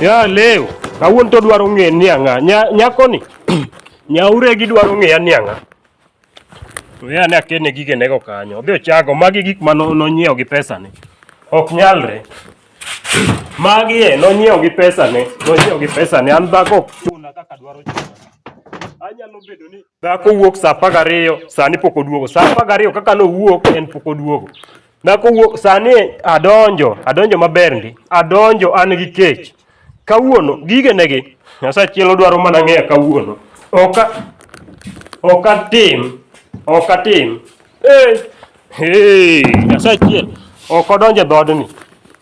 Ya leo, kawuon to dwaro ng'e ni ang'a. Nya, nyako ni. Nyaure gi dwaro ng'e ni ang'a. To ya ne akene gige nego kanyo. Odhi ochago magi gik ma nonyiewo gi pesa ni. Ok nyalre. Magi e nonyiewo gi pesa ne, nonyiewo gi pesa ne. An dhako ok chuna kaka dwaro chuna. Anyalo bedo ni dhako wuok saa apar gariyo, sani pok oduogo. Saa apar gariyo kaka nowuok en pok oduogo. Nakowuok sani adonjo, adonjo maber ndi. Adonjo an gi kech. Kawuono gige negi. Nyasaye chielo dwaro mana ng'eya kawuono. Oka oka tim, oka tim. Eh, hey, Nyasaye chiel. Ok odonjo e dhoodni.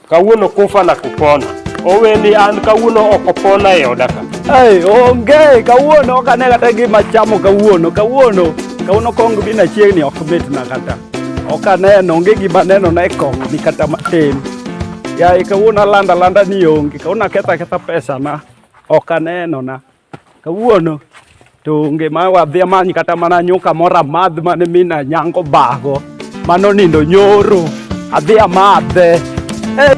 Kawuono kufa na kupona. Oweni an kawuono ok opona e oda ka. Hey, onge kawuono ok ane kata gima chamo kawuono kawuono kawuono kong bi na chiegni ok mitna kata ok aneno onge gima neno na e kong ni kata matin yaye kawuono alanda landa ni onge kawuono aketha aketha pesa na ok aneno na Kawuono to onge ma wadhi amany kata mana nyuka moro amadh mane mina nyango bago mano nindo nyoro adhi amadhe hey,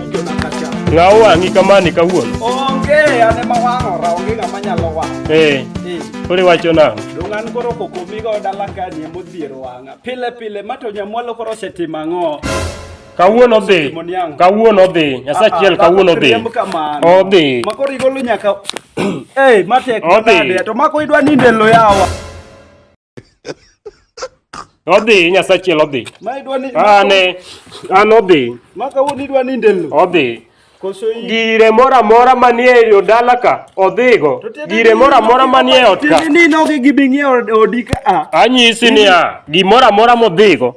ng'awo wang'i kamani kawuono onge ane ma wang'ora onge ng'ama nyalo wang' eh. eh. koro iwacho nang'o dong' an koro kokomigo dala kani emodhiero wang'a pile pile ma to nyamwalo koro osetimo ang'o kawuono dhi kawuono dhi nyasaye achiel ah, ah, kawuono dhi odhi makoro igolo nyaka Hey, mate kudade to mako idwa ninde lo yawa. Odhi nyasachiel odhi. Ma idwa ni Ane an odhi. Maka woni idwa ninde lo. Odhi. Gire mora mora manie yo dala ka odhigo. Gire mora mora manie ot ka. Ni nogi gibing'iewo odi ka. Anyisi niya, gimora mora modhigo.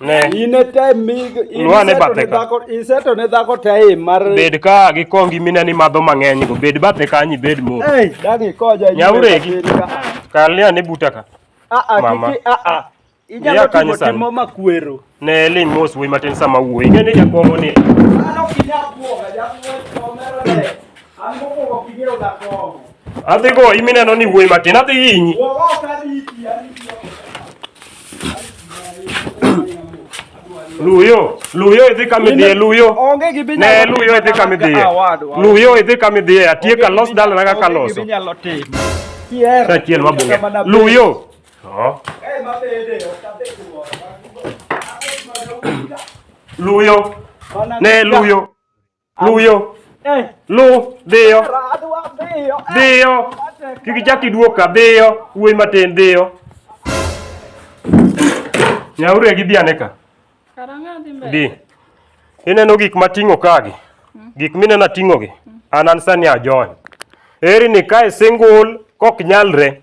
ne ine te mig Lwa ne bathe ka. iseto ne dhako te mar bed ka gi kongi mine ni madho mang'eny go bed bathe kanyi bed mo ei dagi koja Nyauregi. kalia ne buta ka a a Mama. kiki a a Iya inyalo kanyo timo sani. timo makwero ne ling mos wuoyi matin sama wuoyi ng'e ni jakomo ni mano kinya kuoga jakuo omero ne Adhi go imineno ni wuoyi matin adhi hinyi. Luyo, luyo idhi kama idhiye, luyo. Onge gi binyalo. Ne luyo idhi kama idhiye. Luyo idhi kama idhiye, atieka los dalana kaka loso. Sachiel mabunge. Luyo. Oh. Luyo. Ne luyo. Luyo. Eh. Lu, dhiyo. Eh. Dhiyo. Kiki chaki duoka, dhiyo. Uwe matin, dhiyo. Nyauri agi dhi aneka. Karanga dhi mbele. Dhi. Ineno gik mating'o kagi. Hmm. Gik minena ting'o gi. Hmm. An an sani ajony. Eri ni kae single kok nyalre.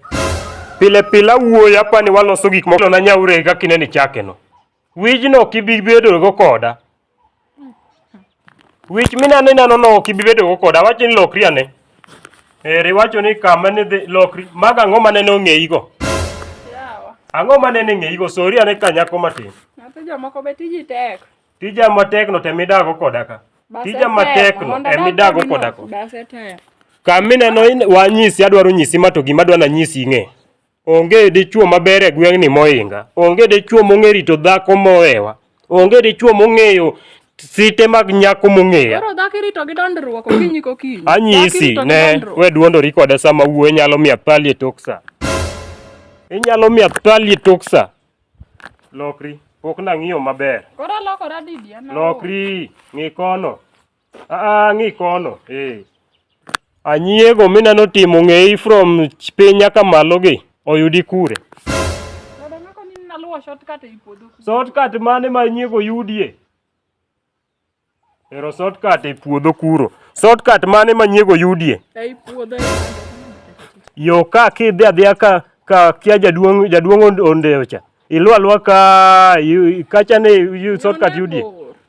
Pile pila wuoyo apani waloso gik moko na nyauri agi kakineni chake no. Wijno kibibedo go koda. Wich minano inano no ok ibi bedogo koda, awacho ni lokri ane. Eri wacho ni kama ne dhi lokri, mago ang'o ma nene ong'eyigo? Yawa. Ang'o ma nene ing'eyigo? Sori ane ka nyako matin. Nyathi jomoko be tiji tek. Tija matekno to emidago koda ka. Base Tija tek, matekno mondo emidago adag koda ka. kodino, Base tek. Kamineno in- wanyisi, adwaro nyisi ma to gima adwa nanyisi ing'e. Onge dichwo maber e gweng'ni mohinga. Onge dichwo mong'e rito dhako mowewa. Onge dichwo mong'eyo site mag nyako mong'eya. Koro dhako irito gi dondruok okinyi kokinyi. Anyisi ne we duondori koda sama wuoyi nyalo miya pali e tok sa. Inyalo miya pali e tok sa. Lokri. Pok nang'iyo maber. Koro lokora didi? Lokri. Ng'i kono. Ah, ng'i kono. Eh. Anyiego mineno timo ng'eyi from piny nyaka malo gi oyudi kure. Dada ng'ako ni naluwo shortcut ei puodho. Shortcut mane ma nyiego yudie? Ero shortcut e puodho kuro. Shortcut mane ma nyiego yudie? Ei puodho. Yo ka kidhi adhiya ka ka kia jaduong' jaduong' ondeocha. Iluwa luwa ka kacha ne shortcut yudie.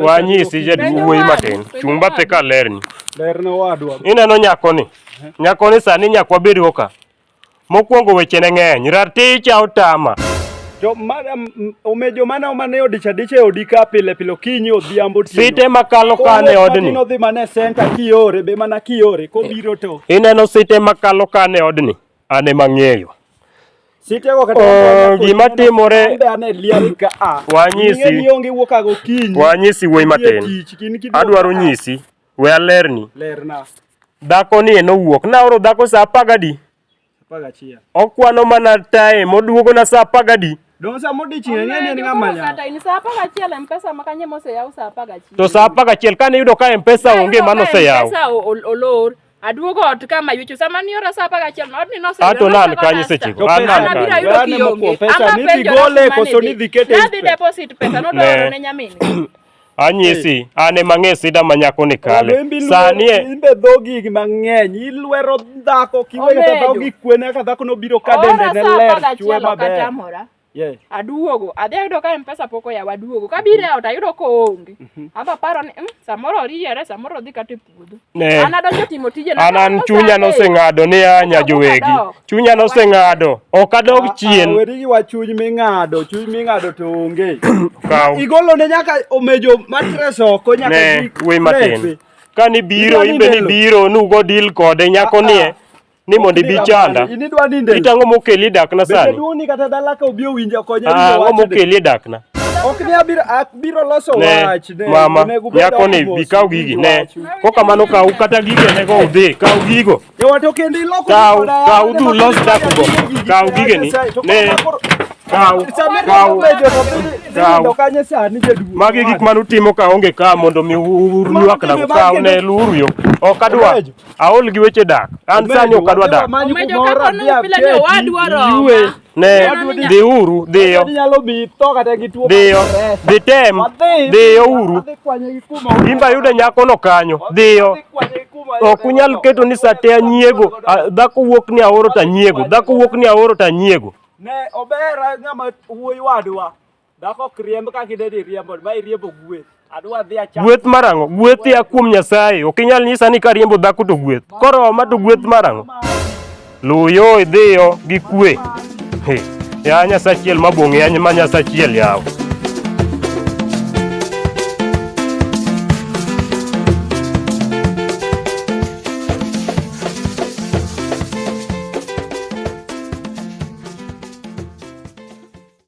Wanyisi jaduong' wuoyi matin, chung' bathe ka lerni. Ineno nyakoni, nyakoni sani nyakwa bedo ka. Mokwongo wechene ng'eny, raticha otama. Omejo mana mana e odich adich e odi ka pile pile okinyi odhiambo otieno. Site makalo kane e odni. Koro odhi mana e center kiore be mana kiore kobiro to. Ineno site makalo kane e odni. An ema ang'eyo. Sitego kata Oh, gima timore- Ambe ane liari ka a. Wanyisi. Ing'e ni onge wuok ago kinyi. Wanyisi wuoyi matin. Nitie tich, kin kiduogo Adwaro ka a. nyisi. We alerni. Lerna. Dhako ni en owuok. Naoro dhako saa apar gadi. Apar gachiel. Okwano mana tae moduogona saa apar gadi. Don sama odiching' ang'e ni en ng'ama nyako. Kata in saa apar gachiel M-Pesa ma kanye moseyaw saa apar gachiel. To saa apar gachiel kane iyudo ka M-Pesa onge mano oseyaw. Pesa olor. Aduogo ot kama yucho sama ni ora sapa gachiel no odni no sebe. Ato nan kanyo seche go. An nan bira yudo ki onge. Pesa ni dhi gole koso ni dhi kete. Na dhi deposit pesa no dwaro ne nyamini. Anyisi, an ema ng'e sida ma nyako ni kale. Sani e. Imbe dhogi mang'eny, ilwero dhako kiweyo dhako gi kwena ka dhako nobiro ka dende ne ler, chwe maber. Yeah. Aduogo, adhi ayudo ka M-Pesa pok oyaw, aduogo. Kabiro e ot ayudo ka oonge. Amba aparo ni mm, samoro oriere, samoro odhi kata e puodho. Ne. An adonjo timo tijena. An an Samoro chunya saa adek. noseng'ado ni anya Odok, jowegi. odok. Chunya noseng'ado. Ok adog Ah, ah, chien. Weri gi wach chuny ming'ado, chuny ming'ado to onge. Kaw. Igolo ne nyaka omejo matres oko nyaka Ne, gi- we matin. lepe. Kani biro, Idwani imbe ni lelo. biro, nugo deal kode nyako Ah, ah. nie. ni mondo ibi chanda. Inidwa ninde. Itang'o mokeli e dakna sani. Bende duoni kata dala ka obi owinje okonye. Ah, ang'o mokeli e dakna. Ok ni abiro abiro loso wach ne. Mama, nyako ni bi kaw gigi ne. Ko kamano kaw kata gigi ne go udhi, kaw gigo. E wato kendo iloko. Kaw, kaw du los dak go. Kaw gigi ni. Ne. Kaw, kaw. Kaw. Magi gik manu timo ka onge ka mondo mi urnyuak na kaw ne luru yo. Ok adwa. Aol gi weche dak. An sani ok adwa dak. Omejo ka kono pile ni owadwa Roma. Ne, dhi uru, dhiyo. Dhiyo, dhi tem, dhiyo uru. Imba yude nyakono kanyo, dhiyo. Ok unyal keto ni sate anyiego, dhako wuok ni aoro to anyiego, dhako wuok ni aoro to anyiego. Ne, obera ng'ama wuoyi wadwa. Dhako kriemb kaka idede iriembo, ma iriembo gweth. Adwa dhi acham. Gweth marango, gweth ya kuom Nyasaye. Ok inyal nyisa ni kariembo dhako to gweth. Koro ma to gweth marango. Luyo idhiyo gi kwe. He. Ya Nyasachiel mabong'e, ya ma Nyasachiel yawo.